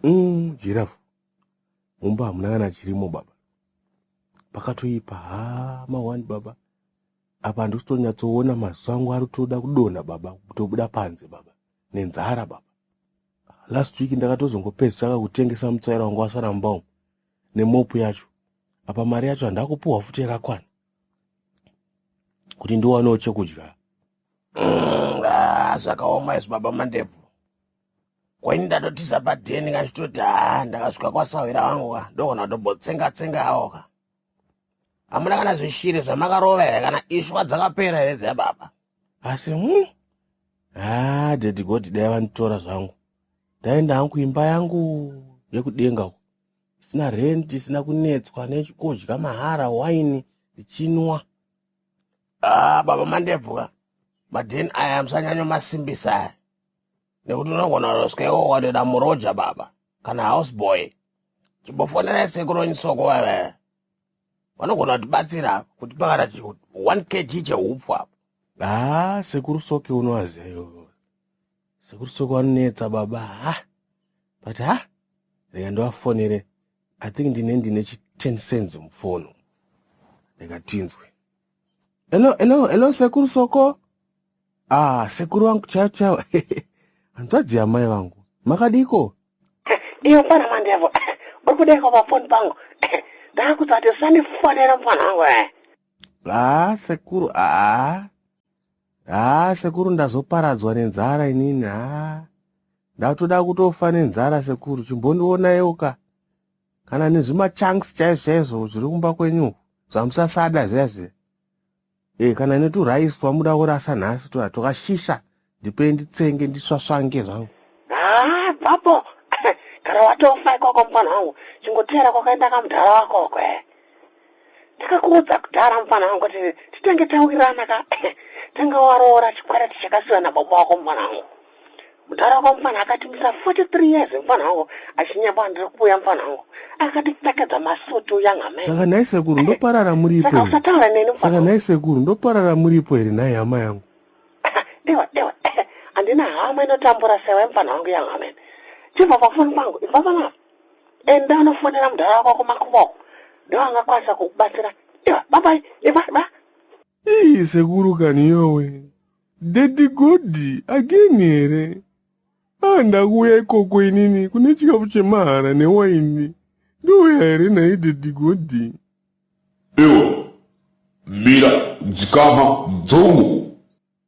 Mm, jirafu mumba hamuna kana chirimo baba pakatoipa ha mawani baba apa handisitonyatsoona maziso angu ari toda kudonha baba kutobuda panze baba nenzara baba last week ndakatozongopedzisaka kutengesa mutsaira wangu wasara mumba umu nemopu yacho apa mari yacho handakupuhwa futi yakakwana kuti ndiwanewo chekudya mm, ah, zvakaoma izvi baba mandebvu kwaini ndatotiza padheni kachitoti haa ndakasvika kwasahwira vangu ka ndogona kutobotsenga tsenga awo ka hamuna kana zvishiri zvamakarova here kana ishwa dzakapera here dzeya baba asi hm haa dedigoti dai vanditora zvangu ndaenda hangu imba yangu yekudenga uko isina renti isina kunetswa nechikudya mahara waini ndichinwa ah baba mandebvuka madheni aya musanyanyomasimbisa aya nekuti unogona kutoswewo watoda muroja baba kana house boy chimbofonera sekuru nyisoko vavaya vanogona kutibatsira kuti pakata chi 1 kg cheupfu apo haa sekuru soke unovaziva ivovo sekuru soke vanonetsa baba ha but ha rega ndivafonere i think ndine ndine chi 10 cents mufoni ndikatinzwe Hello, hello, hello sekuru Soko. Ah, sekuru wangu chao chao. Hanzvadzi yamai vangu. Makadiko? Iyo mfana mandevo. Uri kudaiko pa phone pangu? Ndakutsati sandifonera mfana wangu. eh. Ah, sekuru, ah. Ah, sekuru ndazoparadzwa nenzara inini. Ah. Ndatoda kutofa nenzara sekuru. Chimbondionaiwo ka. kana nezvimachunks chaizvo chaizvo zviri kumba kwenyu zvamusasada zviya zviya e kana neturice twamuda kurasa nhasi tuya twakashisha ndipe nditsenge ndisvasvange zvangu ah, babo kana watofa ikoko mufana wangu chingoteera kwakaenda kamudhara wako kwe ndakakuudza kudhara mufana wangu kuti titenge tawirana ka tanga waroora chikwereti chakasiwa nababa wako mufana wangu mudhara wako mufana akatimisa 43 years mufana wangu achinyamba ndiri kuuya mufana wangu akatipfekedza masuti uya ngamai saka nhai sekuru ndoparara muripo saka usataura neni saka nhai sekuru ndoparara muripo here nhai hama yangu dewa dewa handina hama inotambura sewe mufana wangu yangamene chibva pafoni pangu ibva panapa enda unofonera mudhara wako kumakuva uko ndiwo angakwanisa kukubatsira iva babai iva ba Ii sekuru kani yowe. Daddy Godi again here? Ah ndakuuya ikoko inini kune chikafu chemahara newaini. Ndouya here nhai Daddy Godi? Iwe mira dzikama dzongo.